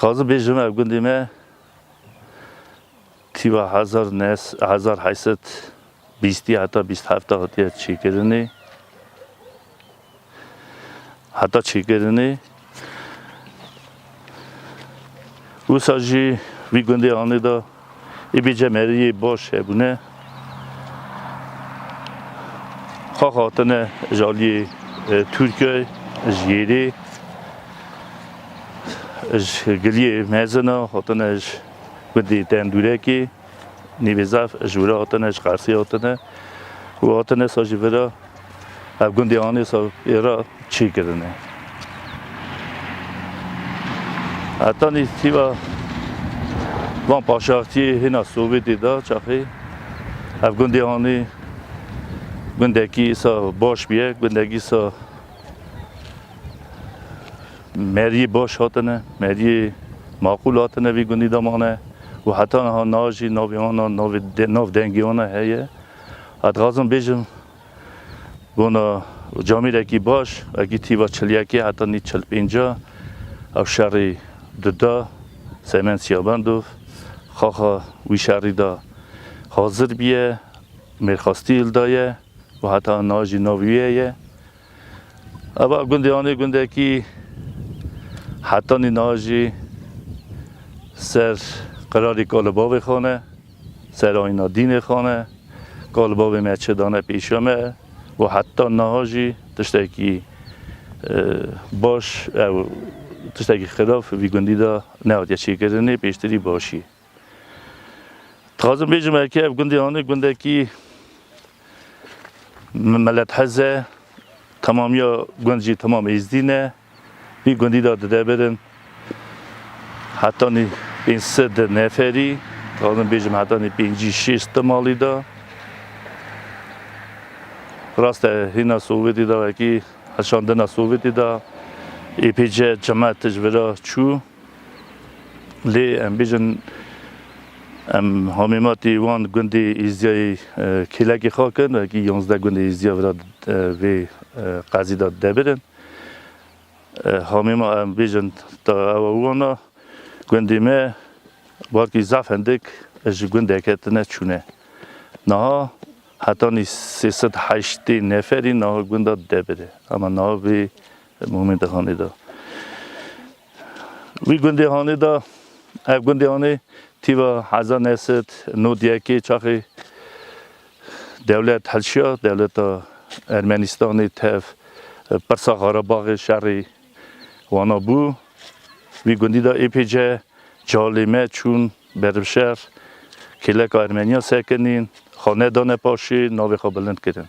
Xazi bêjim ev gundê me tîva hezar nes hezar heyset bîstî heta bîst hefta hatiye çêkirinê. Heta çêkirinê wisa jî vî gundê anê da ê bêce meriyê baş hebûne. Xax hatine ji aliyê e, Tirkiye ji yêrê ji giliyê mezina hatine ji gundê Dendûrekê. Nîvê zaf ji wira hatine, ji Qersê hatine û hatine sa ji vira ev gundê anê sa êra çî kirine. Heta nîsîva van paşaxçiyê hêna Sowêtê de çaxê ev gundê anê gundekî sa baş bûye, gundekî sa Meriyê baş hatine, meriyê maqûl hatine vî gundî de mane û heta niha na jî navê wan a navê nav dengê wan a heye. Ez dixwazim bêjim bona camêrekî baş wekî tîva çil yekê heta nîv çil pênc a ew şerî dida Seymen Siyabendov xaxa wî şerî de hazir bîye mêrxastî hildaye û heta niha jî navê wî heye. Eva gundê anê gundekî hetanî niha jî ser qirarî ka li bavê xwe ne, ser ayîna dînê xwe ne, ka li bavê me çi dane pêşiya me û heta niha jî tiştekî baş û tiştekî xirab vî gundî de nehatiye çêkirinê, pêştirî başî. Dixwazim bêjim erkê ev gundê anê gundekî melet hez e, temamiya gund jî temam êzdî ne. Vî gundî de dide birin hetanî pênc sed neferî, dixwazim bêjim hetanî pêncî şêş di malî de. Rast e hîna Sowêtî de wekî heşandina Sowêtî de êpêce cemaet tij vira çû. Lê em bêjin em hamêmatî wan gundê Îzyayê kêlekê xak in, wekî yazdeh gundê Îzya vira vê qezî de debir in. Hamêma em bêjin ta ewa wana gundê me warkî zaf hindik ji gundeke tune çûne. Niha hetanî sê sed heştê neferî niha gunda debir e. Ama niha vê Muhimê di hanê de. Wî gundê hanê de, ev gundê hanê tîva hezar neh sed nod di yekê çaxê dewlet hilşiya, dewleta Ermenistanê tev pirsa Xarabaxê şerê wana bû. Wî gundî de êpêce calê me çûn bervşer, kêleka Ermeniyan sekinîn, xwe nedane paşê, navê xwe bilind kirin.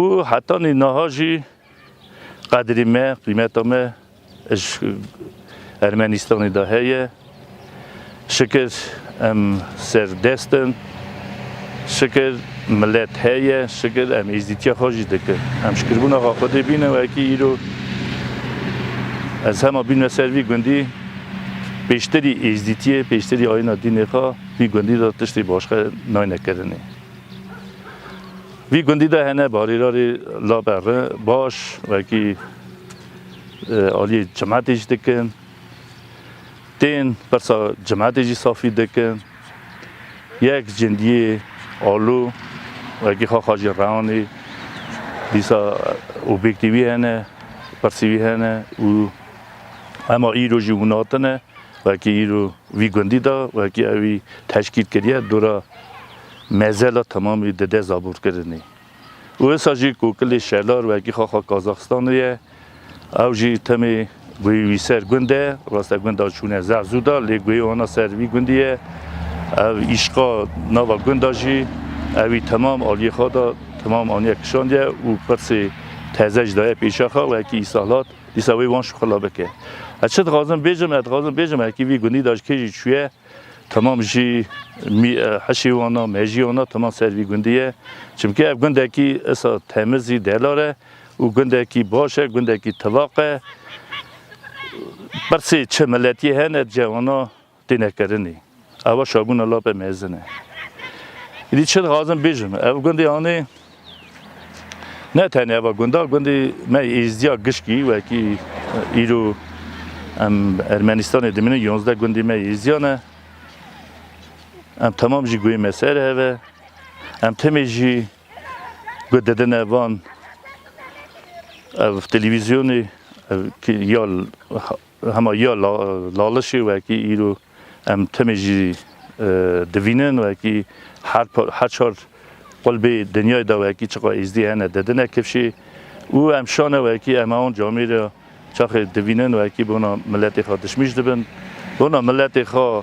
û hetanî niha jî qedrî me, qîmeta me ji Ermenistanê de heye. Şikir em serdest in, şikir milet heye, şikir em êzîtiya xwe jî dikin. Em şikirbûna xwe Xwedê bîne wekî îro ez hema bînme ser vî gundî pêştirî êzîtiyê, pêştirî ayîna dînê xwe vî gundî de tiştê başka nayne kirinê. Vî gundî de hene barîrarê laber re baş wekî aliyê cimetê jî dikin. Tên pirsa cimetê jî safî dikin. Yek cindiyê alû wekî xaxa jî rewanê dîsa objektî wî hene, pirsî wî hene û ema îro jî hûn hatine wekî îro vî gundî de wekî ewî teşkîl kiriye dora mezela temamî dide zabûrkirinê û wisa jî ku kilê şelar wekî xaxa Kazaxstanê ye ew jî temê guhê wî ser gund e. Raste gunda çûne zeh zû da lê guhê wana ser vî gundî ye. Ev îşqa nava gunda jî ewî temam aliyê xwe da temam aniye kişandiye û pirsê teze jî daye pêşa xwe wekî îsahlat dîsa wê wan şixula bike. Ez çi dixwazim bêjim? Ez dixwazim bêjim wekî vî gundî da ji kê jî çûye Temam jî heşê wan a, mejiyê wan a temam ser vî gundî ye. Çimkî ev gundekî esa temiz î delar e û gundekî baş e, gundekî tivaq e. Pirsê çi miletiyê hene di cihê wan a têne kirinî. Ew a şabûna lape mezin e. Îdî çi dixwazim bêjim, ev gundê anê. Ne tenê eva gunda, gundî me êzdiya gişkî wekî îro em Ermenistanê dimînin yonzdeh gundî me êzdiya ne. Em temam jî guhê me ser heve. Em timê jî guh didine van ev televîzyonê ev ya Hema ya lalişê wekî îro em timî jî divînin wekî her çar qulbê dinyayê de wekî çiqa êzdî hene didine kifşê û em şane wekî em ewan camê re çaxê divînin wekî bona miletê xwe dişmîş dibin bona miletê xwe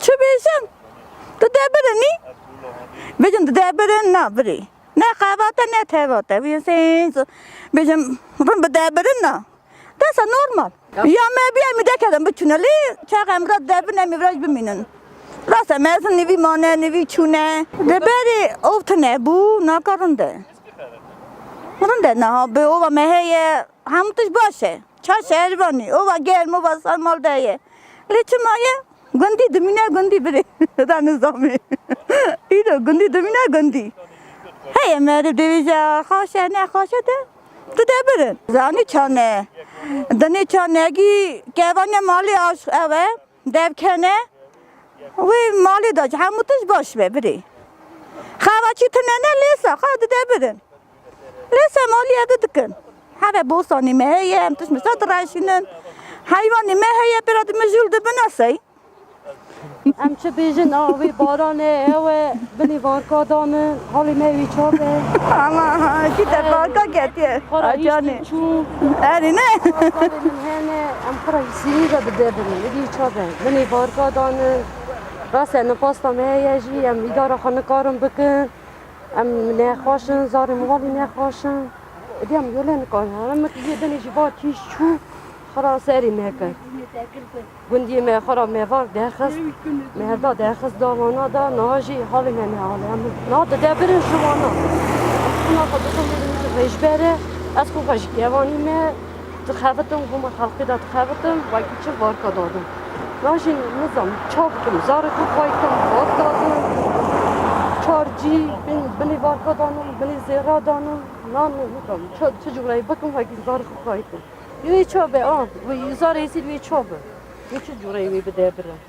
Çi bêjim? Tu dê birinî? Bêjim tu dê birin na birî. Ne xevate ne tevate. Wî sêz bêjim rin bi dê birin na. Desa normal. Ya me bîya mî dekedim bi tunelî çax em ra dê bine mî viraj bimînin. Rasa mezin nîvî mane nîvî çûne. Di berî ov tine bû naka rinde. Rinde na bi ova me heye hemû tişt baş e. Çar şeherivanî oba germ oba sarmal de ye. Lê çima ye? Gundî dimîne gundî birê. Heta nizamê. Îro gundî dimîne gundî. Heye meriv dibêje xaşe ne xaşe de tu de birin. Zanî çane. Dinê çane gî kevane malê aşq ew e. Dev kene wê malê de ji hemû tişt baş be birê. Xava çî tune ne lêsa xwe dide birin. Lêsa maliyê di dikin. Heve bostanê me heye em tişt misa direşînin. Heywanê me heye pêra di mijûl dibin a sey. Em çi bêjin a wê baranê ewe binê varka danin halê me wî çar be. Ama çî te varka ketiye. Xora hîştî çû. Erê ne. Em xora Sînî re bi dev in, êdî ça be. Min ê barka dan in. Rast e, nipasta me heye jî, em îdara xwe nikarin bikin. Em nexweş in, zarê mivalî nexweş in. Êdî em yolê nikarin. Heme min tizî binê jî va kîj çû xwe ra serê me kir. Gundiyê me xwe ra mevak derxist, merda derxist da wana de. Niha jî halê me ne hal e. Em niha di dev birin ji wana. Em xwina xwe dixin bê min ji rêjber e. Ez xwîn xwe ji kevanî me. Dixebitim goma xelkê de dixebitim wekî çi vodka dadin. Na jî nizam çav bikim zarê xwe xwayî kem vodka din. Çar cî bin binê vodka danin, binê zêra danin. Na nizam çi çi cûreyê bikim wekî zarê xwe xwayî kem. Wê çav be a wê zarê êsîd wê çav be. Wê çi cûreyê wê bide birim.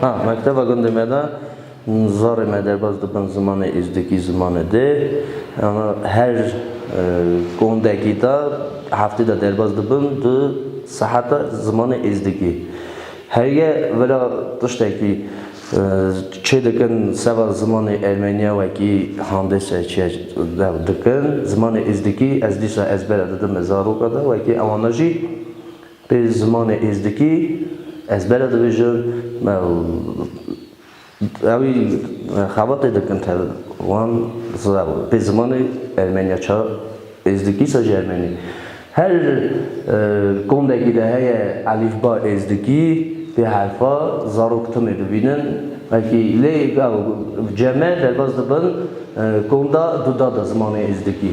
Ha, mekteba gundê me de zarê me derbas dibin zimanê Êzdikî zimanê dê. Ana her gondekî de heftê de derbas dibin du seheta zimanê Êzdikî. Heye vera tiştekî çê dikin seba zimanê Ermenîya wekî handese çiye dew dikin. Zimanê Êzdikî ez dîsa ezbere didim li zaroka de wekî ewana jî. Pê zimanê êzdikî ez bere dibêjim me û ewî xebatê dikin tev wan zira pê zimanê ermenîya ça êzdikî ça jî ermenî. Her kombekî de heye elîfba êzdikî pê herfa zarok timê bibînin wekî lê ew ceme derbas dibin komda du da de zimanê êzdikî.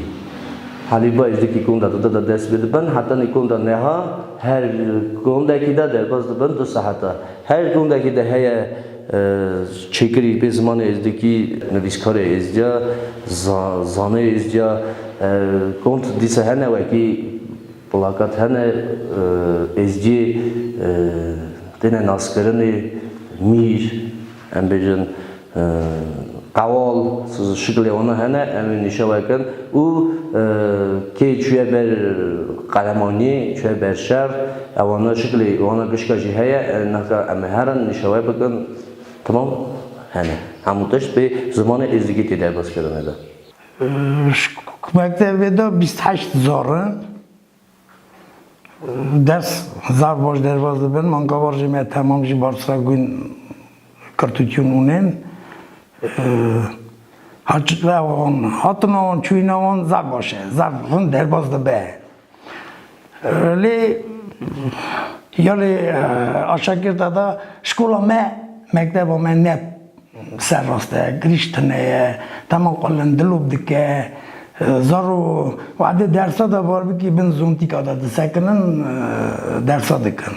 Halîba ji dikî konda dide de dest pê dibin heta nîkonda neha her kondekî de derbas dibin du saet e. Her kondekî de heye çêkirî pê zimanê êzdikî, nivîskarê êzdiya, zanê êzdiya, kond dîsa hene wekî plakat hene êzdiyê têne naskirinê, mîr. Em bêjin qewal şiklê wana hene em ê nîşewe kin û kê çûye ber qelemaniyê, çûye ber şer e wana şiklê wana gişka jî heye naka em ê herin nîşewe bikin temam hene hemû tişt bê zimanê êzidîkê tê derbas kirine de. Ji mektevê de bîst heşt zor in. Ders zaf baş derbas dibin. Man gavar jî me temam jî barsa gûn kirtûkîn ûnên. Haçikla wan hatina wan çûyîna wan zaf baş e. Zaf hûn derbas dibe. Lê ya lê aşakirta da şkola me mekteba me ne Ser rast e, girîş tune ye, dema xwe lin dilop dike, zaro wade dersa de var bikî bin zontîka de disekinin dersa dikin.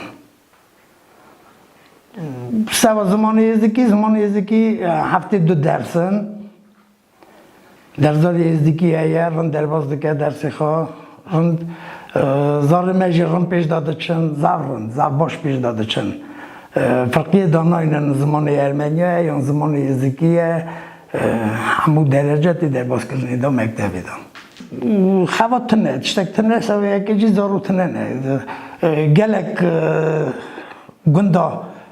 Seba zimanê êzikî, zimanê êzikî heftê du ders in. Derzalê Êzdîkî heye, rind derbas dike dersê xwe. Rind zarê me jî rind pêş de diçin, zaf rind, zaf baş pêş de diçin. Firqiyê danayne li zimanê Ermeniya ye yan zimanê Êzdîkî ye, hemû derece tê derbaskirinê de mektebê de. Xebat tune, tiştek tune ser yekê jî zaro tune ne. Gelek gunda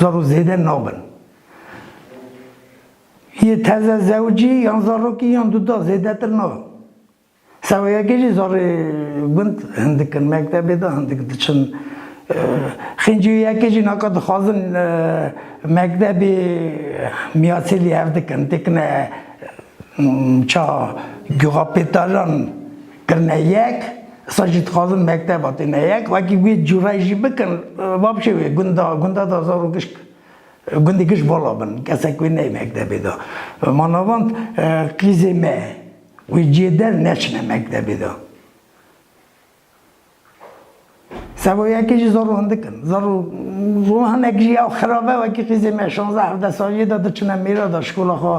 Zaro zêde nabin. Yê teze zewcî yan zarokî yan duda zêdetir nabin. Seweyekê jî zarê gund hindik in, mektebê de hindik diçin. Xîncîyekê jî naka dixwazin mektebê miyasî lî hev dikin, têkine ça guxa pêtajan kirine yek. Êsa jî dixwazin mekteba têne yek, wekî wê cûrayî jî bikin, va bişê wê gunda, gunda da zaro gişt, gundê gişt vala bin, kesek wê neyê mektebê da. Ma navand qîzê me wê ciyê der neçine mektebê da. Seba yekê jî zaro hindik in, zaro ro hinek jî ya xirabe wekî qîzê me şanze hevde saliyê da diçine mêra da, şkola xwe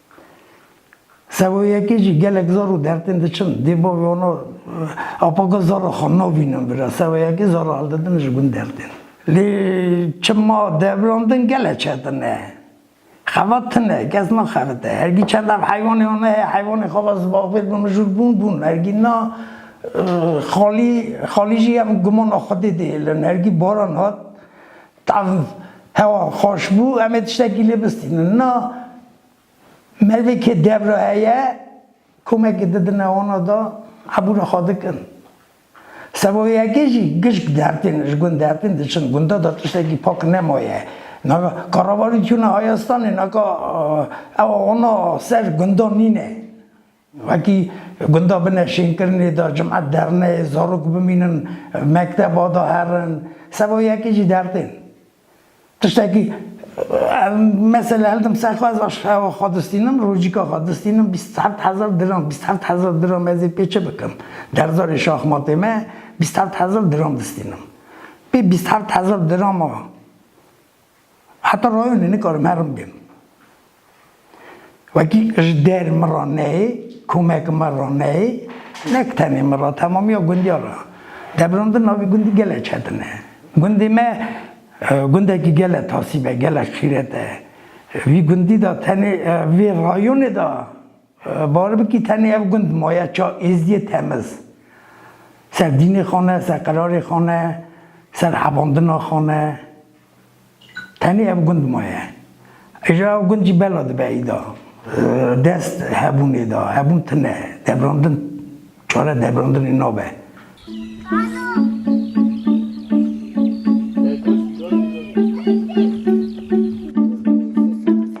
Sewoyekê jî gelek zor û dertên diçin. Dê bo wano apaka zora xwe navînin bira. Sewoyekê zora hildidin ji gund dertên. Lê çima devrandin gele çetin e. Xebat tune, kes naxebite. Hergî çend ev heywanê wana heye, heywanê xebat ji bavê bi mijûl bûn, bûn. Hergî na xalî, xalî jî em gumana xwedê dihêlin. Hergî baran hat. Tav hewa xweş bû em ê tiştekî lê bistînin. Na merivêkê dev re heye komekê didine wana de hebû re xwe dikin. Seba yekê jî gişk dertên ji gund dertên diçin. Gunda de tiştekî pak nemaye. Naka karevalî çûne hayestanê naka ewa wana ser gunda nîne. Wekî gunda bi neşînkirinê de cum'et derneyê zarok bimînin, mekteba de herin, seba yekê jî dertên. Tiştekî ev mesele hildim ser xwe, ez aşxewa xwe distînim, rojîka xwe distînim bîst heft hezar diram, bîst heft hezar diram ez ê pê çi bikim? Derzarê şaxmatê me bîst heft hezar diram distînim. Pê bîst heft hezar dirama. Heta rayonê nikarim herim bêm. Wekî ji der min re neyê, komek min re neyê, nek tenê min re temamiya gundiya re. Debrandin navê gundî gelek çetin e. Gundê me gundekî gelek tasîb e, gelek xîret e. Vî gundî de tenê vê rayonê de bar bikî tenê ev gund maye ça êzîdîyê temiz. Ser dînê xane, ser qerarê xane, ser hebandina xane. Tenê ev gund maye. Îja ev gund jî bela dibe îda dest hebûnê de. Hebûn tune ye. Devrandin çare devrandinê nabe.